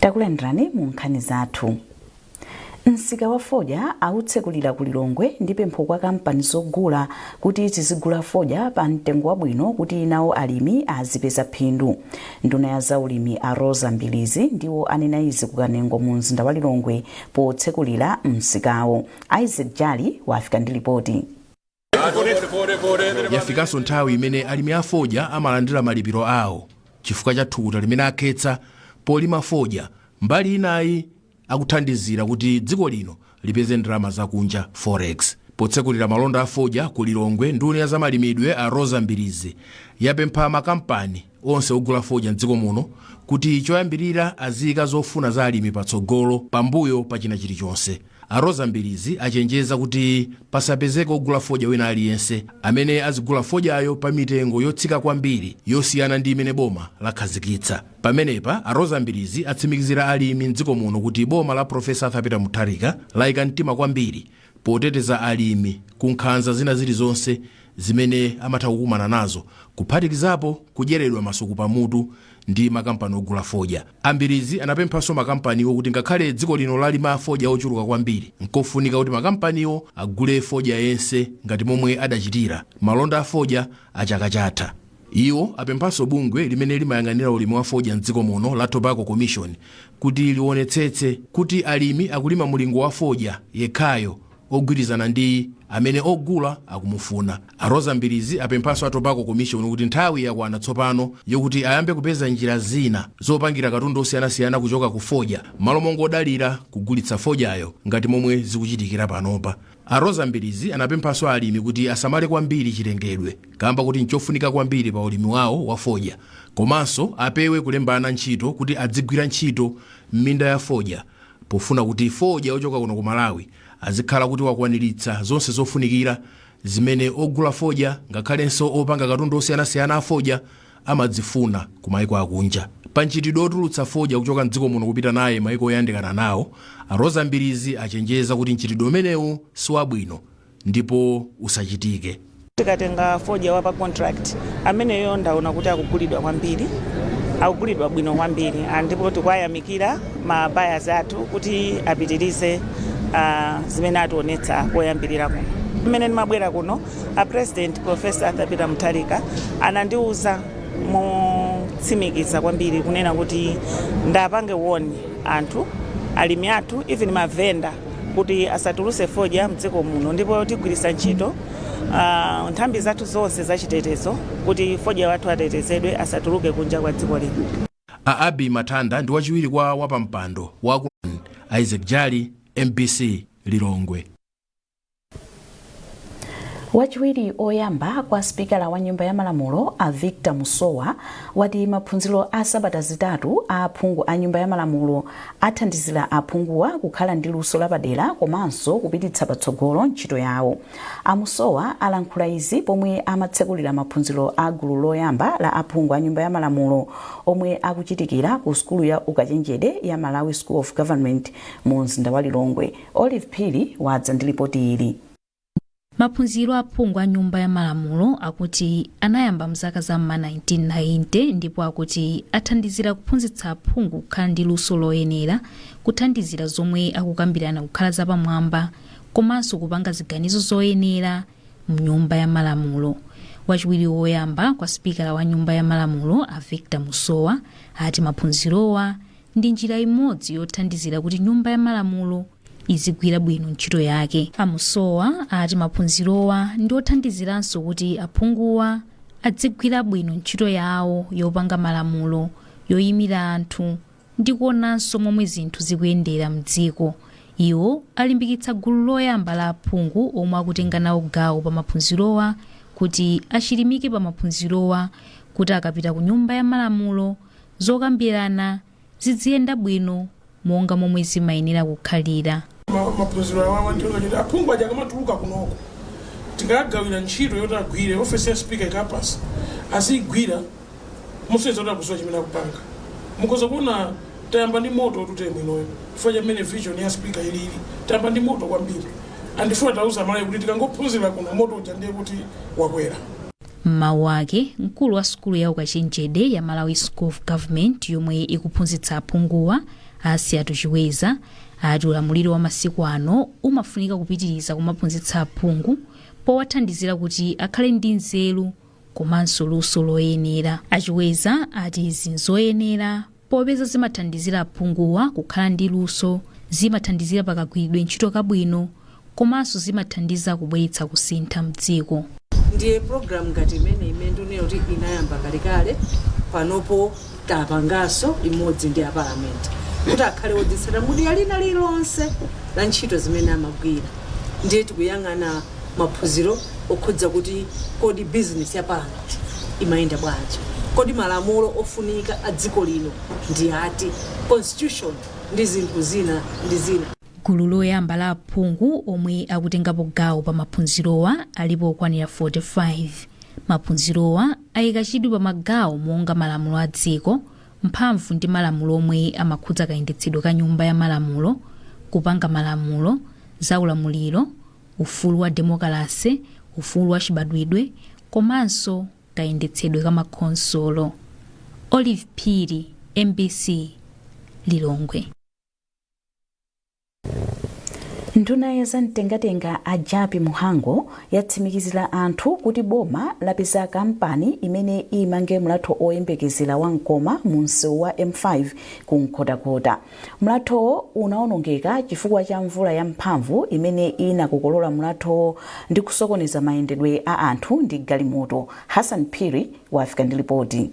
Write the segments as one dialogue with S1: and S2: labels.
S1: takulandirani mu nkhani zathu msika wa fodya awutsekulira ku lilongwe ndi pempho kwa kampani zogula kuti zizigula fodya pa mtengo wabwino kuti nawo alimi azipeza phindu nduna ya zaulimi a roza mbilizi ndiwo anena izi ku kanengo mu mzinda wa lilongwe potsekulira msikawo Isaac Jali wafika ndi
S2: lipoti. Yafikanso nthawi imene alimi a fodya amalandira malipiro awo chifukwa cha thukuta limene akhetsa polima fodya mbali inayi akuthandizira kuti dziko lino lipeze ndalama zakunja, forex. Potsekulira malonda a fodya ku Lilongwe, nduna ya zamalimidwe a Roza Mbilizi yapempha makampani. onse ogula fodya m'dziko muno kuti choyambirira aziyika zofuna za alimi patsogolo pambuyo pa china chilichonse. A Roza Mbilizi achenjeza kuti pasapezeke ogula fodya wina aliyense amene azigula fodyayo pa mitengo yotsika kwambiri yosiyana ndi imene boma lakhazikitsa. Pamenepa, a Roza Mbilizi atsimikizira alimi m'dziko muno kuti boma la Professor Arthur Peter Mutharika layika mtima kwambiri poteteza alimi ku nkhanza zina zilizonse zimene amatha kukumana nazo kuphatikizapo kudyeredwa masuku pamutu ndi makampani ogula fodya. A Mbilizi anapemphanso makampaniwo kuti ngakhale dziko lino lalima fodya wochuluka kwambiri, nkofunika kuti makampaniwo agule fodya yense ngati momwe adachitira malonda a fodya a chaka chatha. Iwo apemphanso bungwe limene limayang'anira ulimi wa fodya m'dziko muno la Tobacco Commission kuti liwonetsetse kuti alimi akulima mulingo wa fodya yekhayo ogwirizana ndi amene ogula akumufuna. A Roza Mbilizi apemphanso a Tobacco Commission kuti nthawi yakwana tsopano yokuti ayambe kupeza njira zina zopangira katundu osiyanasiyana kuchoka ku fodya m'malo mongodalira kugulitsa fodyayo ngati momwe zikuchitikira panopa. A Roza Mbilizi anapemphanso alimi kuti asamale kwambiri chilengedwe kaamba kuti nchofunika kwambiri pa ulimi wawo wa fodya komanso apewe kulemba ana ntchito kuti adzigwira ntchito m'minda ya fodya pofuna kuti fodya ochoka kuno ku Malawi azikhala kuti wakwaniritsa zonse zofunikira zimene ogula fodya ngakhalenso opanga katundu osiyanasiyana a fodya amazifuna ku maiko akunja. Pa mchitidwe otulutsa fodya kuchoka m'dziko muno kupita naye maiko oyandikana nawo, a Roza Mbilizi achenjeza kuti mchitidwe umenewu siwabwino ndipo usachitike. Tikatenga
S3: fodya wa pa contract, ameneyo ndaona kuti akugulidwa kwambiri, akugulidwa bwino kwambiri and ndipo tikuwayamikira ma buyers athu kuti apitirize ah, zimene ationetsa koyambirira kuno. Mmene ndimabwera kuno A President, Prof. Arthur Peter Mutharika anandiuza motsimikiza kwambiri kunena kuti ndipange warn anthu alimi athu even mavenda kuti asatulutse fodya mdziko muno ndipo tigwiritsa ntchito uh, nthambi zathu zonse zachitetezo kuti fodya wathu atetezedwe asatuluke kunja kwa dziko lino. A Abi
S2: Matanda ndi wachiwiri kwa wapampando wa Isaac Jali, MBC Lilongwe.
S1: wachiwiri oyamba kwa sipikala wa nyumba ya malamulo a victor musowa wati maphunziro a sabata zitatu a aphungu a nyumba ya malamulo athandizira aphunguwa kukhala ndi luso lapadera komanso kupititsa patsogolo ntchito yawo a musowa alankhula izi pomwe amatsekulira maphunziro a gulu loyamba la aphungu a nyumba ya malamulo omwe akuchitikira ku sukulu ya ukachenjede ya malawi school of government mu mzinda wa lilongwe Olive Phiri wadza ndi lipoti ili.
S4: Maphunziro a aphungu a nyumba ya malamulo akuti anayamba mzaka za m'ma 1990 ndipo akuti athandizira kuphunzitsa aphungu kukhala ndi luso loyenera, kuthandizira zomwe akukambirana kukhala zapamwamba komanso kupanga ziganizo zoyenera mnyumba ya malamulo. Wachiwiri woyamba kwa sipikala wa nyumba ya malamulo a Victor Musowa ati maphunzirowa ndi njira imodzi yothandizira kuti nyumba ya malamulo izigwira bwino ntchito yake a musowa ati maphunzirowa ndi othandiziranso kuti aphunguwa adzigwira bwino ntchito yawo yopanga malamulo yoyimira anthu ndi kuonanso momwe zinthu zikuyendera mdziko iwo alimbikitsa gulu loyamba la aphungu omwe akutenga nawo gawo pa maphunzirowa kuti achilimike pa maphunzirowa kuti akapita ku nyumba ya malamulo zokambirana zidziyenda bwino monga momwe zimayenera kukhalira. Ma- maphunziro
S5: awa amatero kuti aphungu aja akamatuluka kunoko tikagawira ntchito yoti agwire ofesi ya speaker ikawapatsa aziyigwira mosonyeza kuti akudziwa chimene akupanga mukhoza kuona tayamba ndi moto tuteye mwinoyo chifukwa chamene vision ya speaker ilili tayamba ndi moto kwambiri andifuna tauza malayi kuti tikangophunzira kuno moto uja ndiye kuti wakwera
S4: M'mawu ake, mkulu wa sukulu ya ukachenjede ya Malawi School of Government yomwe ikuphunzitsa aphunguwa a Asiyati Chiweza ati ulamuliro wa masiku ano umafunika kupitiriza kumaphunzitsa aphungu powathandizira kuti akhale ndi nzeru komanso luso loyenera. A Chiweza ati izi nzoyenera Popeza zimathandizira aphunguwa kukhala ndi luso, zimathandizira pa kagwiridwe ntchito kabwino komanso zimathandiza kubweretsa kusintha mdziko. Ndiye program
S6: ngati imeneyi imene ndikunena kuti inayamba kalekale, panopo tapanganso imodzi ndi a parliament kuti akhale odzitsata mu dera lina lililonse la ntchito zimene amagwira ndiye tikuyang'ana maphunziro okhudza kuti kodi bizinesi ya Parliament imayenda bwanji, kodi malamulo ofunika a dziko lino ndi ati, constitution ndi zinthu zina ndi zina. Gulu loyamba
S4: la aphungu omwe akutengapo gawo pa maphunzirowa alipo okwanira 45. Maphunzirowa ayika chidwi pa magawo monga malamulo a dziko, mphamvu ndi malamulo omwe amakhudza kayendetsedwe ka nyumba ya malamulo, kupanga malamulo, za ulamuliro, ufulu wa demokalase, ufulu wachibadwidwe komanso kayendetsedwe ka makhonsolo. Olive Phiri, mbc, Lilongwe.
S1: Nduna ya zamtengatenga a Jappie Mhango yatsimikizira anthu kuti boma lapeza kampani imene imange mlatho oyembekezera wa Nkoma mu msewu wa M5 ku Nkhotakota. Mlathowo unawonongeka chifukwa cha mvula yamphamvu imene inakokolola mlathowo ndi kusokoneza mayendedwe a anthu ndi galimoto. Hassan Phiri wafika ndi lipoti.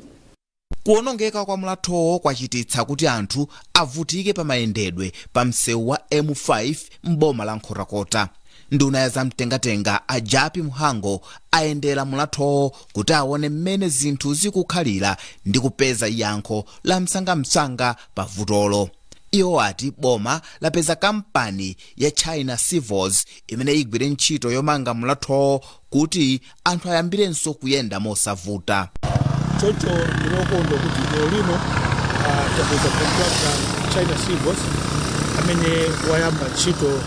S1: Kuwonongeka
S7: kwa mlathowo kwachititsa kuti anthu avutike pa mayendedwe pa msewu wa M5 m'boma la Nkhotakota. Nduna ya zamtengatenga a Jappie Mhango ayendera mlathowo kuti awone mmene zinthu zikukhalira ndi kupeza yankho la msangamsanga pa vutolo. Iwo ati boma lapeza kampani ya China Civils imene igwire ntchito yomanga mlathowo kuti anthu ayambirenso kuyenda mosavuta. choncho
S5: ndinokondwa kuti lero lino ah, tapeza kontrakta China Civils amene wayamba ntchito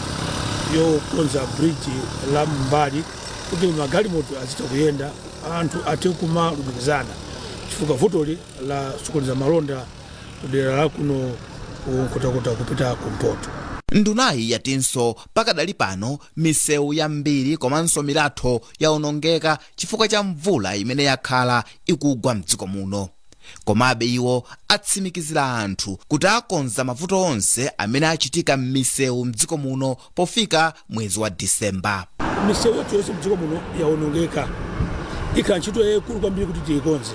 S5: yokonza bridge la m'mbali kuti magalimoto azitha kuyenda anthu athe kumalumikizana chifukwa vutoli lasokoneza malonda kudera la kuno ku Nkhotakota kupita kumpoto. Ndunayi
S7: yatinso pakadali pano misewu yambiri komanso milatho yaonongeka chifukwa cha mvula imene yakhala ikugwa mdziko muno. Komabe iwo atsimikizira anthu kuti akonza mavuto onse amene achitika m'misewu mdziko muno pofika mwezi wa December. misewu yathu
S5: yonse mdziko muno yawonongeka ikhala ntchito yayikulu kwambiri kuti tiyikonze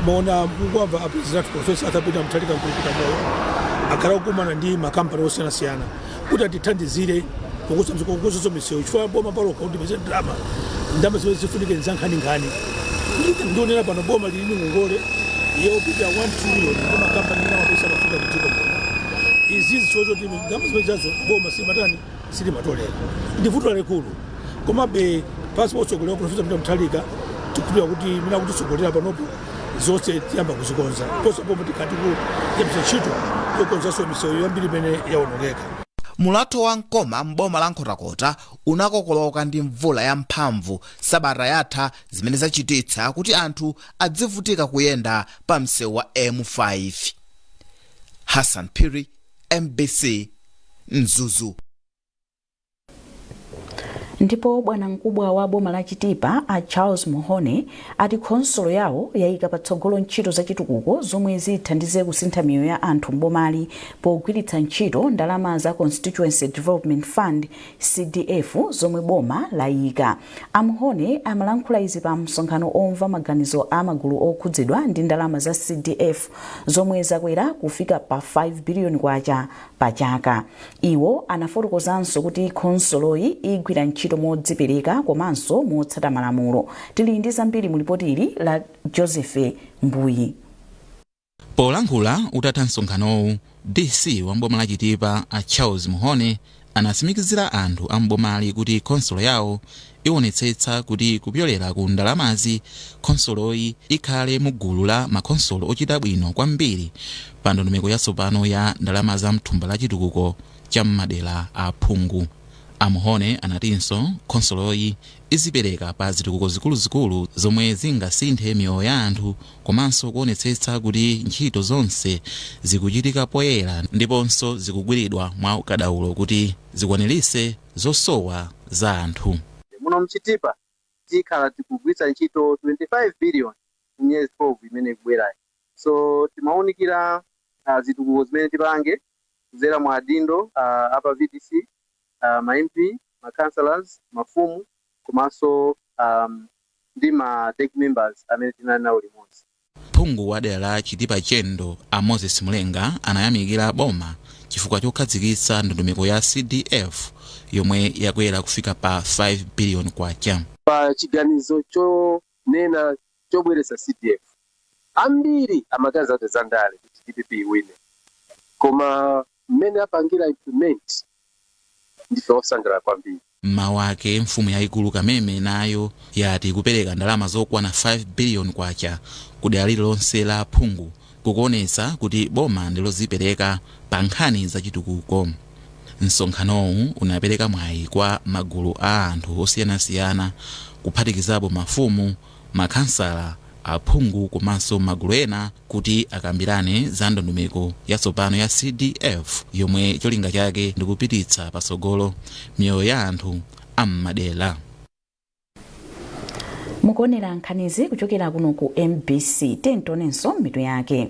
S5: mwaona mukumva apresident athu Profesa Arthur Peter Mutharika nkulukutamoyo akhala kukumana ndi makampani osiyanasiyana kuti atithandizire kukonzanso misewu chifukwa boma palokha kuti peze ndalama ndalama zimene zifunike nzankhaninkhani ndikunena pano boma lili ndi ngongole yoposa 1 trillion ndi makampani ena amapeza mafuta mdziko muno izizi choncho oti Ndalama zimenezo boma silimatani silimatolera ndi vuto lalikulu komabe pansi potsogolera profesa mutharika tikukhulupirira kuti mmene akutitsogolera panopo zonse tiyamba kuzikonza posachedwa boma tikhala tikuyambitsa ntchito yokonzanso misewu yambiri imene yawonongeka mulatho
S7: wa mkoma m'boma la nkhotakota unakokoloka ndi mvula yamphamvu sabata yatha zimene zachititsa kuti anthu adzivutika kuyenda pa msewu wa m5 hassan phiri mbc
S1: mzuzu ndipo bwanamkubwa wa boma la chitipa a charles muhone ati khonsolo yawo yayika patsogolo ntchito zachitukuko zomwe zithandize kusintha miyoyo ya anthu mbomali pogwiritsa ntchito ndalama za constituency development fund cdf zomwe boma layika a muhone amalankhula izi pa msonkhano womva maganizo a magulu okhudzidwa ndi ndalama za cdf zomwe zakwera kufika pa 5 biliyoni kwacha pa chaka iwo anafotokozanso kuti khonsoloyi igwira ntchito modzipereka komanso motsata malamulo tili ndi zambiri mu lipoti ili la joseph mbuyi
S8: polankhula utatha msonkhanowu DC wa m'boma la Chitipa a Charles Muhone anatsimikizira anthu a m'bomali kuti khonsolo yawo iwonetsetsa kuti kupyolera ku ndalamazi, khonsoloyi ikhale mu gulu la makhonsolo ochita bwino kwambiri pa ndondomeko yatsopano ya ndalama za mthumba la chitukuko cha m'madera a phungu. A Muhone anatinso khonsoloyi izipereka pa zitukuko zikuluzikulu zomwe zingasinthe miyoyo ya anthu komanso kuonetsetsa kuti ntchito zonse zikuchitika poyera ndiponso zikugwiridwa mwa ukadaulo kuti zikwaniritse zosowa za anthu. Muno m'Chitipa
S9: tikhala tikugwiritsa ntchito 25 billion mu miyezi 12 imene ikubwerayi. So timaunikira ah, zitukuko zimene tipange kudzera mwa adindo ah, a pa VDC a ma MP, ma councillors, mafumu komanso ndi ma DEC members amene tinali nawo limodzi. Phungu wa dera
S8: la Chitipa Chendo a Moses Mulenga anayamikira boma chifukwa chokhazikitsa ndondomeko ya CDF yomwe yakwera kufika pa K5 billion. Pa
S10: chiganizo chonena chobweretsa CDF, ambiri amaganiza kuti zandale kuti DPP iwine koma Mmene apangira implement ndife osangalala kwambiri. M'mawu
S8: ake, mfumu yaikulu Kameme nayo yati kupereka ndalama zokwana K5 billion ku dera lililonse la aphungu kukuonetsa kuti boma ndi lodzipereka pa nkhani za chitukuko. Msonkhanowu unapereka mwayi kwa magulu a anthu osiyanasiyana kuphatikizapo mafumu, makhansala, aphungu komanso magulu ena kuti akambirane za ndondomeko yatsopano ya CDF yomwe cholinga chake ndi kupititsa patsogolo miyoyo ya anthu a
S1: m'madera. mukuonera nkhanizi kuchokera kuno ku mbc tionenso mitu yake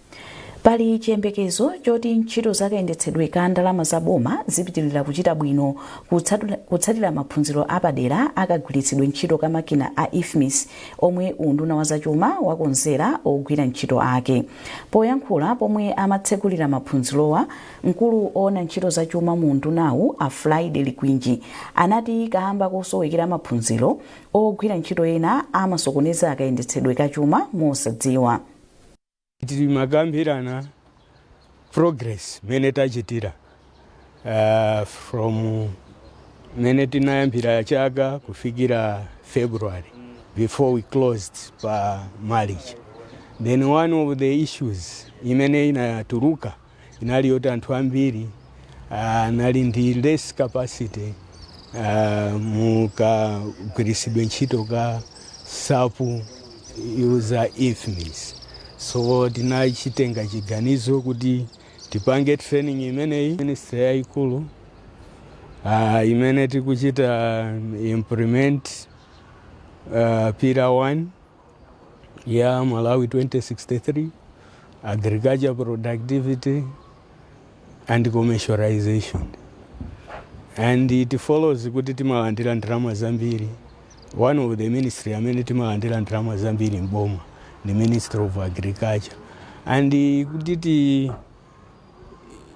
S1: Pali chiyembekezo choti ntchito za kayendetsedwe ka ndalama za boma zipitilira kuchita bwino kutsatira maphunziro apadera a kagwiritsidwe ntchito ka makina a IFMIS omwe unduna wa zachuma wakonzera ogwira ntchito ake. Poyankhula pomwe amatsegulira maphunzirowa, mkulu oona ntchito za chuma mu undunawu a Friday Likwinji anati kaamba kosowekera maphunziro, ogwira ntchito ena amasokoneza kayendetsedwe ka chuma mosadziwa.
S11: Timakambirana progress mene tachitira uh, from mene tinayambira chaka kufikira February before we closed pa March. Then one of the issues imene inatuluka inali yoti anthu ambiri anali ndi less capacity uh, mukagwiritsidwe ntchito ka SAP user IFMIS so tinachitenga chiganizo kuti tipange training imeneyi ministry yayikulu uh, imene tikuchita implement uh, pillar 1 ya Malawi 2063 agriculture productivity and commercialization and it follows kuti timalandira ndalama zambiri one of the ministry amene timalandira ndalama zambiri m'boma ndi ministry of agriculture and kuti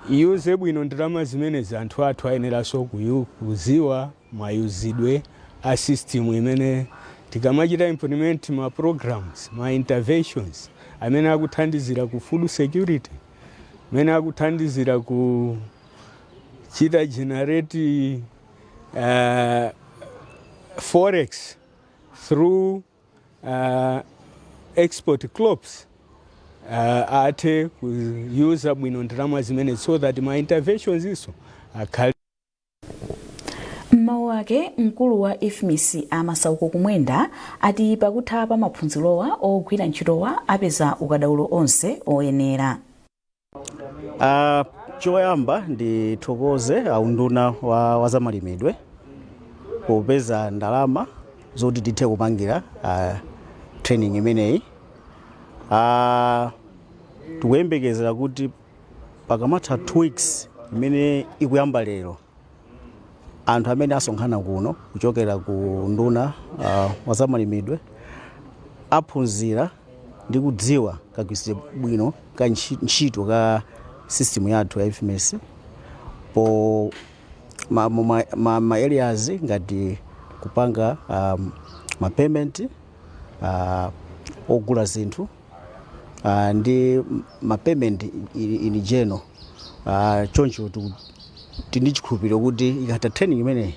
S11: tiiyuze bwino ndalama zimenezi anthu athu ayeneranso kuyu- kuziwa mayuzidwe a system imene tikamachita implement ma programs, ma interventions amene akuthandizira ku food security, amene akuthandizira ku chita generate uh, forex through uh, export crops uh, athe kuyuza bwino ndalama zimene so that ma interventions iso akhale
S1: M'mawu ake, mkulu wa Ifmis a Masauko Kumwenda ati pakutha pa maphunzirowa ogwira ntchitowa apeza ukadaulo onse oyenera. Ah,
S12: choyamba ndithokoze a unduna wa, wa zamalimidwe popeza ndalama zoti tithe kupangira ah, training imeneyi ah, tikuyembekezera kuti Pakamatha two weeks imene ikuyamba lero, anthu amene asonkhana kuno kuchokera ku unduna wa zamalimidwe aphunzira ndi kudziwa kagwiritsidwe bwino ka ntchito ka system yathu ya IFMIS pa ma, ma, ma, ma areas ngati kupanga um, ma payment uh, ogula zinthu uh, ndi ma payment in, in general uh, choncho tiku- tili ndi chikhulupiriro kuti ikatha training imeneyi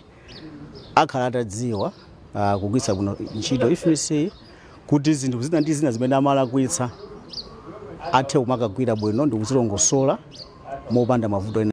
S12: akhala atadziwa uh, kugwiritsa bwino ntchito IFMIS kuti zinthu zina ndi zina zimene amalakwitsa athe kumakagwira bwino ndi kuzilongosola mopanda mavuto ena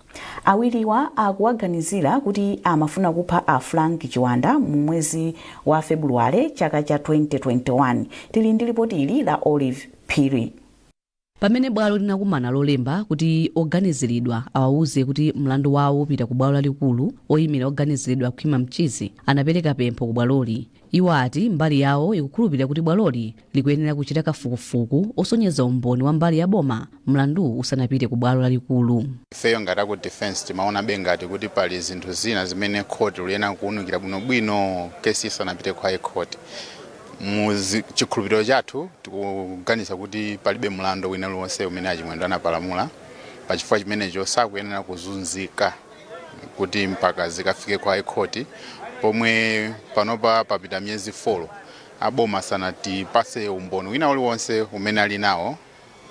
S1: Awiriwa akuwaganizira kuti amafuna kupha a Frank Chiwanda mu mwezi wa Febuluwale chaka cha 2021. Tili ndi lipoti ili la Olive Phiri. Pamene
S13: bwalo linakumana lolemba kuti oganiziridwa awawuze kuti mlandu wawo upita ku bwalo lalikulu, oyimira oganiziridwa Khwima Mchizi anapeleka pempho ku bwaloli Iwo ati mbali yawo ikukhulupilira kuti bwaloli likuyenera kuchita kafukufuku osonyeza umboni wa mbali ya boma mlanduwu usanapite ku bwalo lalikulu. Ifeyo ngati aku
S14: defense timaonabe ngati kuti pali zinthu zina zimene court liyenera kuunikira bwinobwino case isanapite ku high court. Mu zi- chikhulupiriro chathu tikuganiza kuti palibe mlandu wina uliwonse umene a Chimwendo anapalamula pachifukwa chimenecho sakuyenera kuzunzika. kuti mpaka zikafike kwa high court pomwe panopa papita miyezi 4 aboma sanatipase umboni wina uliwonse umene ali nawo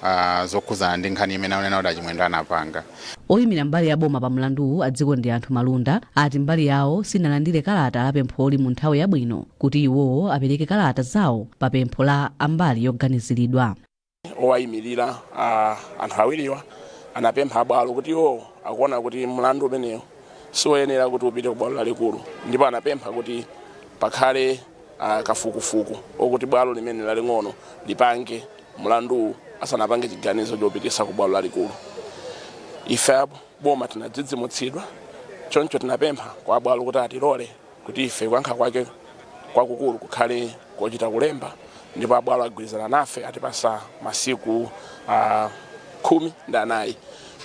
S14: ah, zokhudzana ndi nkhani imene akunena kuti a Chimwendo anapanga oyimira mbali
S13: ya boma pa mlanduwu a Dzikondianthu Malunda ati mbali yawo sinalandire kalata la pempholi mu nthawi yabwino kuti iwowo apereke kalata zawo pa pempho la ambali yoganiziridwa
S15: owayimirira a anthu awiriwa anapempha abwalo kuti iwo akuona kuti mlandu umenewu siwoyenera kuti upite ku bwalo lalikulu ndipo anapempha kuti pakhale ah, kafukufuku okuti bwalo limene laling'ono lipange mlanduwu asanapange chiganizo chopitisa ku bwalo lalikulu ife a boma tinadzidzimutsidwa choncho tinapempha kwa abwalo kuti atilole kuti ife kuyankha kwake kwakukulu kukhale kochita kulemba ndipo abwalo agwirizana nafe atipasa masiku uh, khumi ndi anayi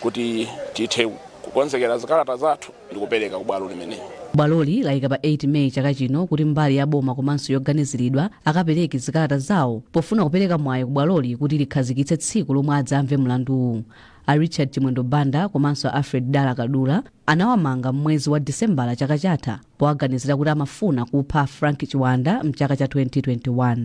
S15: kuti tithe kukonzekera zikalata zathu ndi kupereka ku bwalo limeneli bwaloli layika
S13: pa 8 May chaka chino kuti mbali ya boma komanso yoganiziridwa akapereke zikalata zawo pofuna kupereka mwayi ku bwaloli kuti likhazikitse tsiku lomwe adzamve mlanduwu a Richard Chimwendo Banda komanso a Alfred Dala Kadula anawamanga m'mwezi wa Disembala chaka chatha powaganizira kuti amafuna kupha a Frank Chiwanda mchaka cha 2021.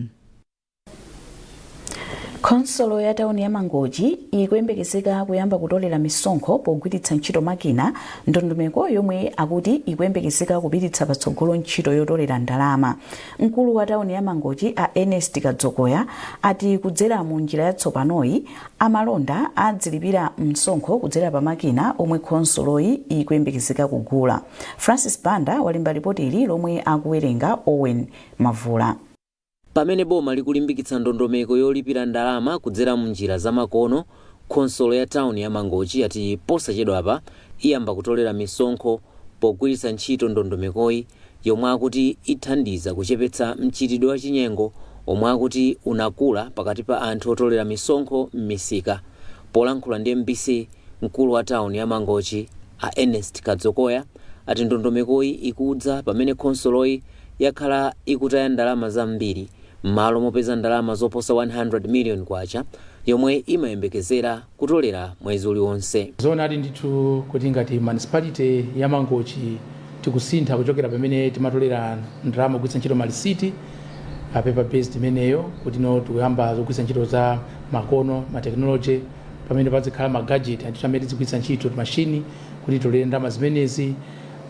S1: khonsolo ya tauni ya mangochi ikuyembekezeka kuyamba kutolera misonkho pogwiritsa ntchito makina ndondomeko yomwe akuti ikuyembekezeka kupititsa patsogolo ntchito yotolera ndalama mkulu wa tauni ya mangochi a ernest kadzokoya ati kudzera mu njira yatsopanoyi Amalonda adzilipira msonkho kudzera pa makina omwe khonsoloyi ikuyembekezeka kugula. Francis Banda walemba lipoti ili lomwe akuwerenga Owen Mavula. Pamene
S16: boma likulimbikitsa ndondomeko yolipira ndalama kudzera m'njira zamakono, khonsolo ya tawuni ya Mangochi yati posachedwapa iyamba kutolera misonkho pogwiritsa ntchito ndondomekoyi. yomwe akuti ithandiza kuchepetsa mchitidwe wachinyengo omwe akuti unakula pakati pa anthu otolera misonkho m'misika. Polankhula ndi mbc, mkulu wa tawuni ya Mangochi, a Ernest Kadzokoya, ati ndondomekoyi ikudza pamene khonsoloyi yakhala ikutaya ndalama zambiri m'malo mopeza ndalama zoposa K100 million yomwe imayembekezera. kutolera mwezi uliwonse. Zoonadi
S17: ndithu kuti ngati municipality ya Mangochi tikusintha kuchokera pamene timatolera ndalama kugwiritsa ntchito malisiti paper based imeneyo kuti no tikuyamba zogwiritsa ntchito za makono ma technology pamene pazikhala ma gadget anthu amene tizigwiritsa ntchito mashini kuti titolere ndalama zimenezi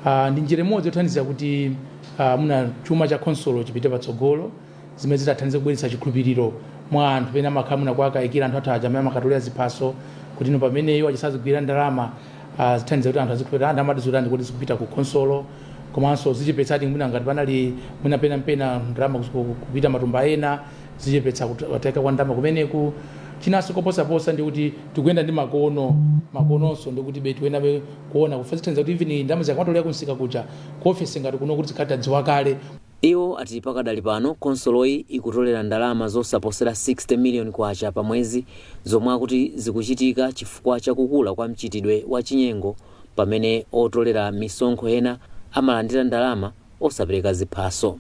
S17: Ah, ndi njira imodzi yothandizira kuti ah, muna chuma cha khonsolo chipite patsogolo zimene zitathandize kubweretsa chikhulupiriro mwa anthu pena amakhala mwina kuwakayikira anthu athu aja amene amakatolera ziphaso kuti no pamene iwo azisazigwira ndalama ah, zithandiza kuti anthu azikhulupirira anthu amati zotani kuti zikupita ku khonsolo komanso zichepetsa kuti mwina ngati panali mwina pena mpena ndalama kuzi- ku- kupita matumba ena zichepetsa kut- kutayika kwa ndalama kumeneku chinanso koposaposa ndi kuti tikuyenda ndi makono makononso ndi kuti betu enabe kuona kufa zithandiza kuti even ndalama zikamatolera kumsika kuja ku ofesi ngati kuno kuti zikhala tadziwa kale Iwo
S16: ati pakadali pano khonsoloyi ikutolera ndalama zosaposera K60 million pa mwezi zomwe akuti zikuchitika chifukwa cha kukula kwa mchitidwe wa chinyengo pamene otolera misonkho ena amalandira ndalama osapereka ziphaso.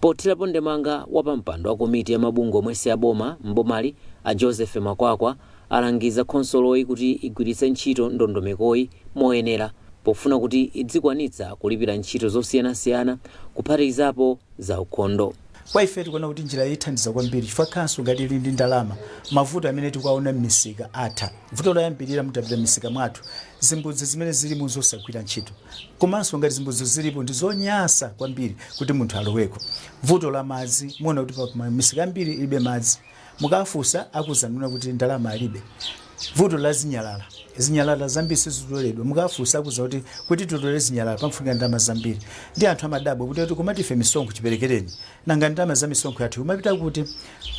S16: Pothirapo ndemanga, wapampando wa komiti ya mabungwe omwe si aboma m'bomali a Joseph Makwakwa, alangiza khonsoloyi kuti igwiritse ntchito ndondomekoyi moyenera pofuna kuti idzikwanitsa kulipira ntchito zosiyanasiyana kuphatikizapo zaukhondo. Kwa ife tikuona kuti
S18: njirayi ithandiza kwambiri chifukwa khanso ngati ili ndi ndalama, mavuto amene tikuwaona m'misika atha. Vuto loyambirira mutapita m'misika mwathu, zimbudzi zimene zilimo n'zosagwira ntchito komanso ngati zimbudzizo zilipo ndi zonyasa kwambiri kuti munthu aloweko. Vuto la madzi, muona kuti pamisika yambiri ilibe madzi. Mukawafunsa akuuzani kunena kuti ndalama alibe. Vuto la zinyalala. Zinyalala zambiri sizitoledwa. Mukawafunsa akuuza kuti, kuti titole zinyalala pamfunika ndalama zambiri. Ndiye anthu amadabwa kuti ati komatu ife misonkho chiperekereni. Nanga ndalama za misonkho yathu ikumapita kuti?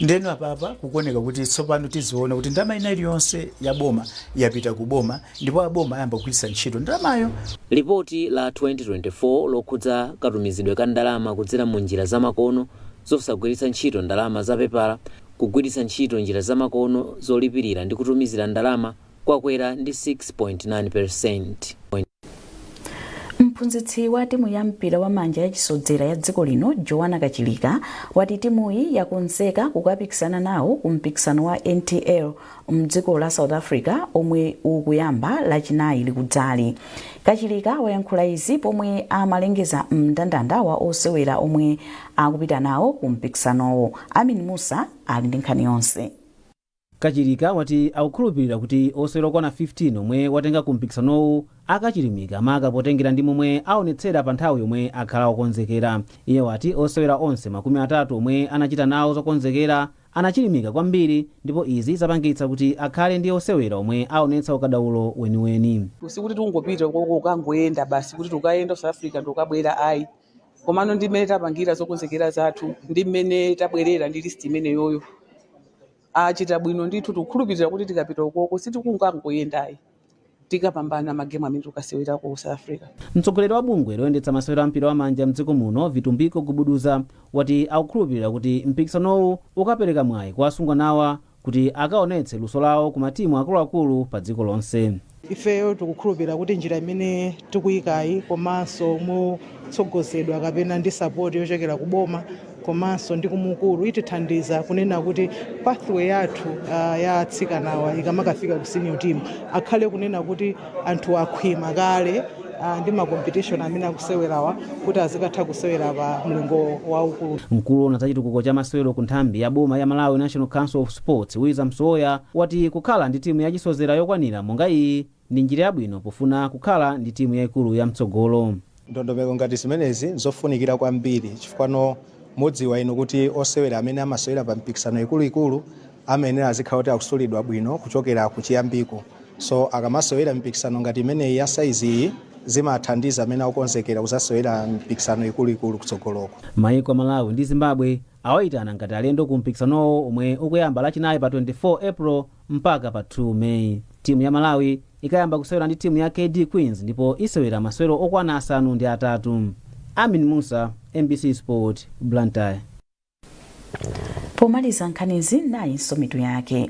S18: Ndeno apapa kukuoneka kuti tsopano tiziona kuti ndalama ina iliyonse ya boma yapita ku boma ndipo a boma ayamba kugwiritsa ntchito ndalamayo. Lipoti la
S16: 2024 lokhudza katumizidwe ka ndalama kudzera mu njira zamakono zosagwiritsa ntchito ndalama za pepala, kugwiritsa ntchito njira zamakono zolipirira ndi kutumizira ndalama kwakwera ndi 6.9 percenti.
S1: Mphunzitsi wa timu ya mpira wa manja ya chisodzera ya dziko lino Joanna Kachilika wati timuyi yakonzeka kukapikisana nawo ku mpikisano wa NTL mdziko la South Africa omwe ukuyamba lachinayi likudzali. Kachilika wayankhula izi pomwe amalengeza mndandanda wa osewera omwe akupita nawo ku mpikisanowo. Amin Mussa ali ndi nkhani yonse.
S19: Kachilika wati akukhulupilira kuti osewera okwana 15 omwe watenga ku mpikisanowu akachilimika maka potengera ndi momwe aonetsera pa nthawi yomwe akhala okonzekera. Iye wati osewera onse makumi atatu omwe anachita nawo zokonzekera anachilimika kwambiri ndipo izi zapangitsa kuti akhale ndi osewera omwe aonetsa ukadaulo weniweni. sikuti tungopita
S20: kukangoyenda basi kuti tukayenda south africa ndikukabwera ayi komano ndi mmene tapangira zokonzekera zathu ndi mmene tabwerera ndi list imeneyoyo achita bwino ndithu tikukhulupirira kuti tikapita ukoko sitikungangoyendayi tikapambana magemu amene tukasewera ku south africa Mtsogoleri wa
S19: bungwe loyendetsa masewero a mpira wa manja mdziko muno Vitumbiko Gubuduza wati akukhulupirira kuti mpikisanowu ukapereka mwayi kwa asungwanawa kuti akaonetse luso lawo ku matimu akuluakulu pa dziko lonse. Ifeyo tikukhulupira
S21: kuti njira imene tikuyikayi komanso motsogozedwa kapena ndi support yochokera ku boma komanso ndi kumukulu itithandiza kunena kuti pathway yathu ya atsikanawa ikamakafika ku senior team akhale kunena kuti anthu akhwima kale ah, ndi ma competition amene akusewerawa kuti azikatha kusewera pa mlingo waukulu mkulu wowona za chitukuko
S19: cha masewero ku nthambi ya boma ya malawi national council of sports wiza msowoya wati kukhala ndi timu yachisozera yokwanira monga iyi ndi njira yabwino pofuna kukhala ndi timu yaikulu ya mtsogolo Ndondomeko
S22: ngati zimenezi nzofunikira kwambiri chifukwano mudziwa inu kuti osewera amene amasewera pa mpikisano ikuluikulu amayenera azikhala kuti akusulidwa bwino kuchokera kuchiyambiko so akamasewera mipikisano ngati imeneyi ya saizi iyi zimathandiza amene akukonzekera kuzasewera mipikisano ikuluikulu kutsogoloko. Maiko a Malawi ndi
S19: Zimbabwe Awaitana ngati alendo ku mpikisanowo omwe ukuyamba lachinayi pa 24 April mpaka pa 2 May. Timu ya Malawi ikayamba kusewera ndi timu ya KD Queens ndipo isewera masewero okwana asanu ndi atatu. Amin Mussa, MBC Sport,
S1: Blantyre. Pomaliza nkhanizi nayinso mitu yake.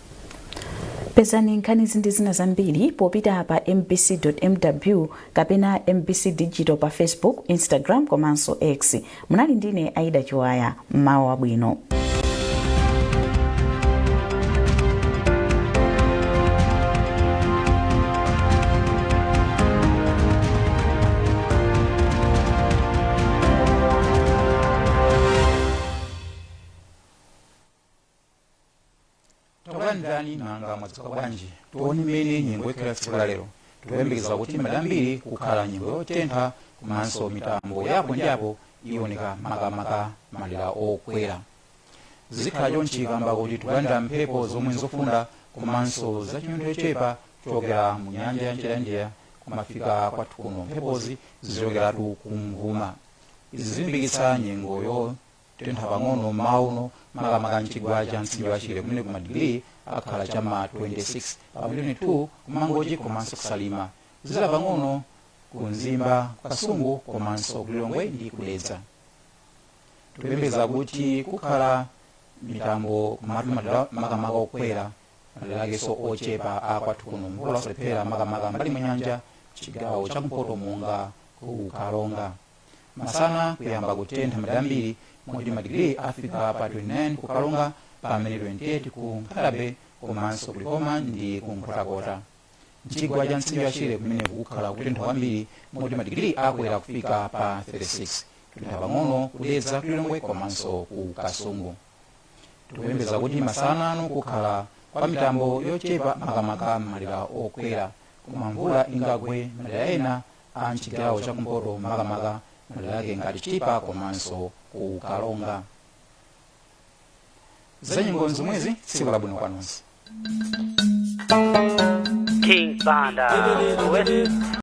S1: pezani nkhanizi ndi zina zambiri popita pa mbc.mw kapena mbc digital pa facebook instagram komanso x munali ndine aida chiwaya mmawa wabwino
S2: takulandirani nanga mwadzuka bwanji tione mmene nyengo ikhala tsiku la lero tikuyembekeza kuti madera ambiri kukhala nyengo yotentha komanso mitambo yapo ndi apo ioneka makamaka madera okwera zikhala chonchi kamba kuti tikulandira mphepo zomwe nzofunda komanso zachinyontho chochepa kuchokera mu nyanja ya mchere ya India kumafika kwathu kuno mphepozi zichokeratu kumvuma izi zilimbikitsa nyengoyo kutentha pang'ono mmawa uno makamaka mchigwa cha mtsinje wa shire kumene madigiri akhala cha ma 26 pamene 22 kumangochi komanso kusalima kuzizira pang'ono ku mzimba kasungu komanso kulilongwe ndi kudedza tikuyembekeza kuti kukhala mitambo kumatu madera makamaka okwera madera akenso ochepa akwathu kuno mvula siilephera makamaka mbali mwa nyanja chigawo cha mpoto monga ku karonga Masana kuyamba kutentha madera ambiri moti madigiri afika pa 29 ku Karonga pamene 28 ku Nkhata Bay komanso ku Likoma ndi ku Nkhotakota. Mchigwa cha mtsinje wa Shire kumene kukhala kutentha kwambiri moti madigiri akwera kufika pa 36. Kutentha pang'ono ku Dedza ku Lilongwe komanso ku Kasungu. tikuyembekeza kuti masana ano kukhala kwa mitambo yochepa makamaka m'madera okwera koma mvula ingagwe madera ena a mchigawo chakumpoto makamaka madera ake ngati chitipa komanso ku karonga zanyengo zomwezi tsiku labwino kwa nonse King Banda.
S3: West